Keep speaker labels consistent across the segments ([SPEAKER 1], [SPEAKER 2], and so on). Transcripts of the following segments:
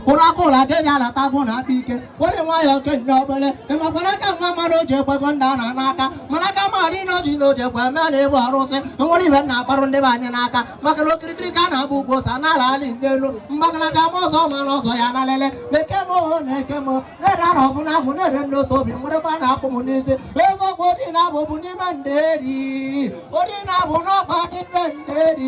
[SPEAKER 1] ụra aka ụra aka eji alata bụ na aka ike were nwayọ okenye obele ịmakwara aka nwa mmanwụ o ji ekwego nna ọ na n'aka mana aka maara ị na o ji na o ji ekwe eme na ebe arụsị e nwere ibe m na-akparụ ndị be anyị n'aka maka na okirikiri ka a na-agba ukwu ose anara alị nye elu mgbagalaga ma ọzọ ma na ọzọ ya na lele na-eke m oho na-eke m na-ere ahụ ọgụ na ahụ na-ere nne otu obi were a na-akwụ m n'isi eziokwu odi na-abụ bụ n'ime ndị eri odi na-abụ n'ọkwa dị mbe ndị eri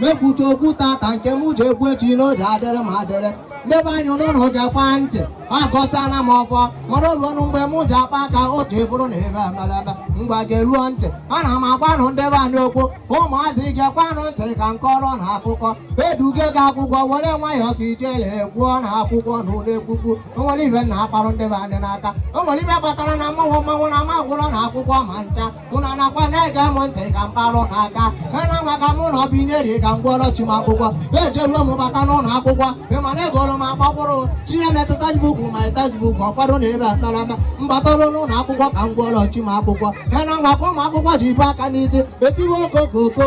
[SPEAKER 1] mepụta okwu tata nke m ji ekwu echi n'oge adịrị m adịrị ndị be anyị ụlọ na ụja kpaa ntị agọsịala m ọfọ mara olu ọnụ mgbe m ji akpa aka otu ebụrụ na ebe emelebe ngwa ga-eruo ntị ana m agwanụ ndị be anyị okwu ụmụazị gekwanụ ntị ka m kọọrụ ụnụ akụkọ eduge gị akwụkwọ were nwayọọ ka ijele gwụọ na akwụkwọ na ụlọ ekwukwu o nwere ibe m na-akparụ ndị be anyị n'aka o nwere ibe kpatara na mmanwụ mmanwụ na ma gwụrọ na akwụkwọ ma ncha ụnụ anakwa na-ege m ntị ka m kparụ na-aga ena nwa ka mụ na ọ bụ ineri ka m gwụọrọ chi m akwụkwọ ejeruo m bata n'ụlọ akwụkwọ ị ma na egoro m akpọkwụrụ tinye m exercise book ma exercise book ọkwado na ebe akparama m batara n'ụlọ akwụkwọ ka m gwụọrọ chi m akwụkwọ ena nwa ka ụmụ akwụkwọ ji ebu aka n'isi etiwe okokoko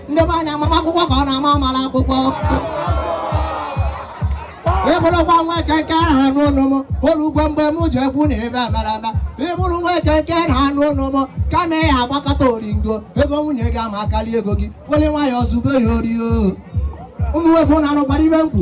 [SPEAKER 1] ndị be anyị mama akwụkwọ ka ọ na-ama amala akwụkwọ ị bụrụkwa nwoke nke aha n'ụlọ m ụlọ ugbo mgbe m ji ekwu na ebe amara ama ị bụrụ nwoke nke na anụ ụlọ m kama ya agbakata oringo ego nwunye gị ama akarị ego gị were nwayọọ zube ya ori o ụmụ nwoke na-anụkwara ibe m kwu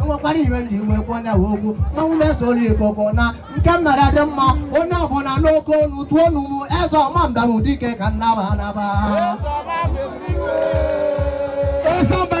[SPEAKER 1] enwekwara ihe m ji wee kwuo onye wee okwu mmanwụ na-eso olu ikoko na nke m mere dị mma onye ọbụla n'oke olu tụọ olu m eze ọma mbam dike ka m naba anaba Eze ọma